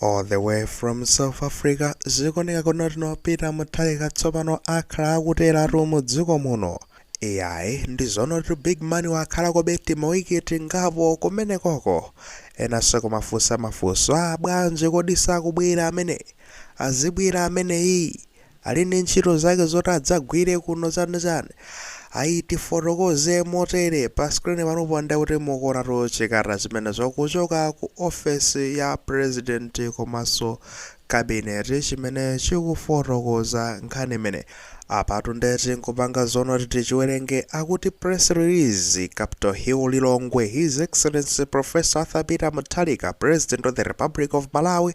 All the way from South Africa zikuoneka kuti no Peter Mutharika tsopano akhala akuteratu mu dziko muno iyayi ndi zonoti big man wakhalakobe timawiki tingapo kumenekoko enanso kumafunsa mafunso a bwanji kodi sakubwera ameneyi azibwera ameneyi Ali ndi ntchito zake zoti adzagwire kuno chani chani ayi tifotokoze motere pa screen panopo nde kuti mukuonatu chikalata chimenecho kuchoka ku ofesi ya president komanso cabinet chimene chikufotokoza nkhani imeneyi apatu nde tingopanga zonoti tichiwerenge akuti press release capital hill lilongwe his excellency professor arthur peter mutharika president of the republic of malawi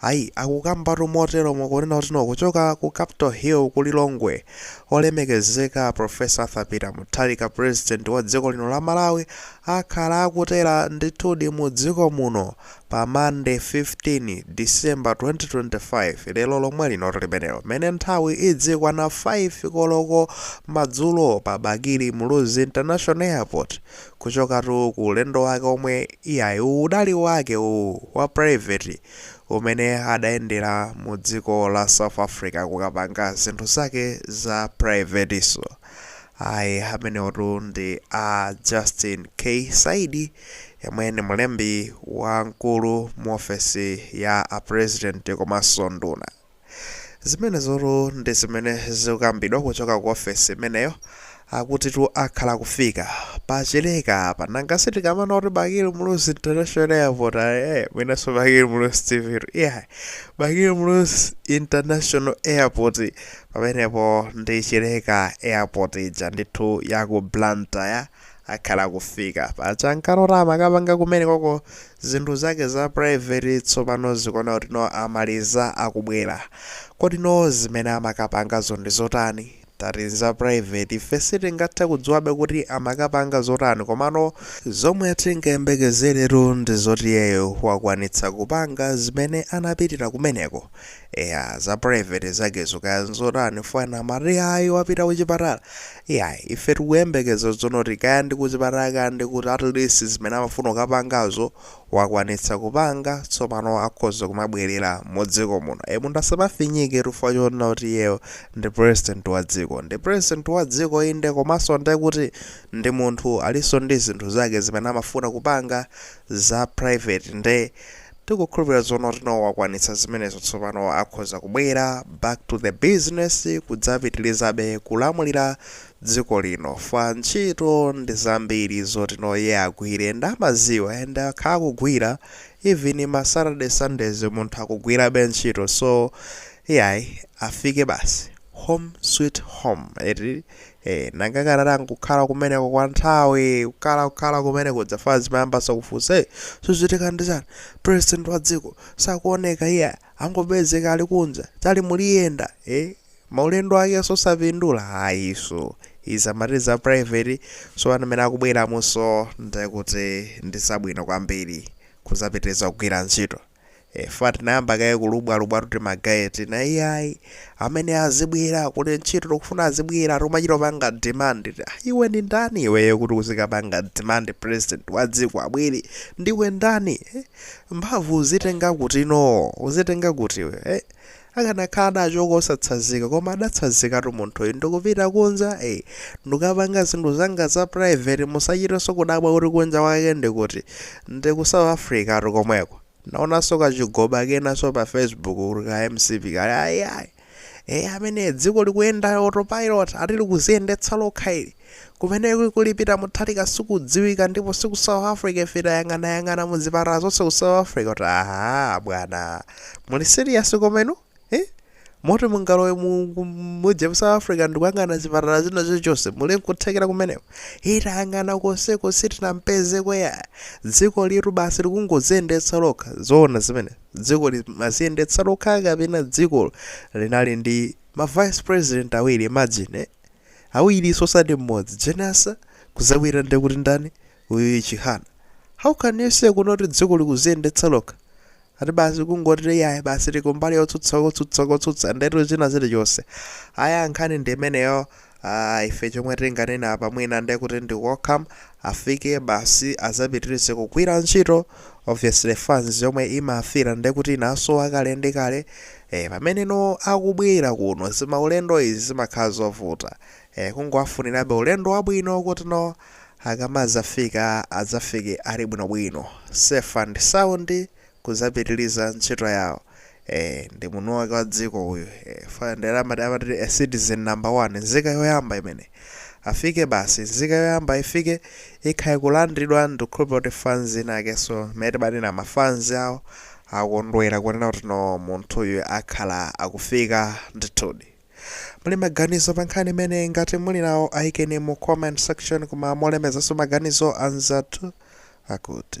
Ayi, akukambatu moteromo kunena kuti no kuchoka ku Capital Hill ku Lilongwe, olemekezeka a Prof. Arthur Peter Mutharika, President wa dziko lino la Malawi, akhala akutera ndithudi mu dziko muno pa Monday 15 December 2025, lero lomwe linotu limenelo, mmene nthawi idzikwana 5 koloko madzulo pa Bakili Muluzi International Airport Kuchokatu ku ulendo wake omwe iyayi udali wake uwu wa private umene adayendera mu dziko la South Africa kukapanga zinthu zake za privatenso ayi amenewotu ndi a Justin K Saidi yemwe ndi mlembi wamkulu mu ofesi ya a president komanso nduna. Zimenezotu ndi zimene zikukambidwa kuchoka ku ofesi imeneyo. Akutitu akhala akufika pa Chileka apa. Nanga si tikamanena kuti Bakili Muluzi International Airport ayi, eh, mwinanso Bakili Muluzi TV tu. Yeah. Bakili Muluzi International Airport pamenepo ndi Chileka Airport ija ndithu ya ku Blantyre. akhala akufika paja ankalota amakapanga kumenekoko zinthu zake za private tsopano zikuoneka kuti no amaliza akubwera kodi no zimene amakapangazo ndi zotani tati nza private ife sitingathe kudziwabe kuti amakapanga zotani komano zomwe tingayembekezeretu ndi zoti iyeyo wakwanitsa kupanga zimene anapitira kumeneko Eya za private zakezo kaya nzotani fo ena amati ayi wapita kuchipatala iyayi ife tikuyembekeza zonoti kaya ndi kuchipatala kaya ndi kuti at least zimene amafuna kukapangazo wakwanitsa kupanga tsopano akhoza kumabwerera mu dziko muno e munthu asamafinyike chifukwa chonena kuti iyeyo ndi president wa dziko ndi president wa dziko inde komanso ndiye kuti ndi munthu alinso ndi zinthu zake zimene amafuna kupanga za private nde Tikukhulupilira zoonati no wakwanitsa zimenezo tsopano akhoza kubwera back to the business kudzapitilizabe kulamulira dziko lino fa ntchito ndi zambiri zoti no iye agwire and amaziwa and akhala akugwira even ma Saturday Sundays munthu akugwirabe ntchito so iyayi afike basi home sweet home eti Eh, nanga akanati nkukhala kumeneko kwa nthawi kukhala kukhala kumeneko dzafans zimayambanso kufunsa zikuchitika ndi chani president wa dziko sakuoneka iye angopezeka ali kunja tali muliyenda eh, maulendo ake nsosapindula ayi so izi amati za private so amene akubweramunso nde kuti ndi zabwino kwambiri kuzapitiriza kugwira ntchito Ee fa tinayamba kaye kulubwalubwatu timagaye tina iyayi amene azibwera kuli ntchito tikufuna azibwera tikumachita kupanga demand kuti ah, iwe ndi ndani iweyo kuti uzikapanga demand president wa dziko abwere ndiwe ndani eh? mphamvu uzitenga kuti no uzitenga kuti iwe eh? Akanakhala adachoka osatsazika koma adatsazikatu munthuyu ndikupita kunja ee ndikapanga zinthu zanga za private musachitenso kudabwa kuti kunja kwake ndikuti ndi ku south africatu komweko ndaonanso kachigoba kenaso pa facebook kuti ka MCP kali ayi ayi ee amene dziko likuyenda autopilot ati likuziyendetsa lokha ili Kumene kuli Peter Mutharika sikudziwika ndipo siku South Africa ife tayang'ana yang'ana mu zipatala zonse ku South Africa kuti aha bwana muli serious komano eh? moti mungalowe mu ku- muje mu South Africa ndikuyang'ana zipatala zina zonse muli nkuthekera kumeneko tayang'ana konseko sitinampeze kweya dzikolitu basi likungoziyendetsa lokha zoona zimene dziko limaziyendetsa lokha kapena dziko linali ndi ma vice president awiri imagine eh? awirinso osati mmodzi Jane Ansah kuzabwera nde kuti ndani uyu Chihana how can you say kuno kuti dziko likuziyendetsa lokha ati basi kungoti yayi basi tikumbali yotsutsa kotsutsa kotsutsa ndetu china chilichonse aya nkhani ndi imeneyo ah, ife chomwe tinganena apa mwina nde kuti ndi welcome Afike basi azapitilize kugwira ntchito, obviously fans yomwe imafila ndekuti inasowa kale ndi kale, ee pamene no akubwera kuno zimaulendo izi zimakhala zovuta, ee kungowafunirabe ulendo wabwino kuti no akamazafika azafike ali bwinobwino, safe and sound kuzapitiliza ntchito yawo, Eeh ndi mwini wake wa dziko uyu eeh fa ndiye amati amati a citizen number one nzika yoyamba imene afike basi nzika yoyamba ifike ikhale kulandidwa ndikukhulupira kuti fans inakenso mmene timanena ma fans awo akondwera kunena kuti no munthuyu akhala akufika ndithudi muli maganizo pa nkhani imene ngati muli nawo ayikeni mu comment section koma molemezanso maganizo anzathu akuti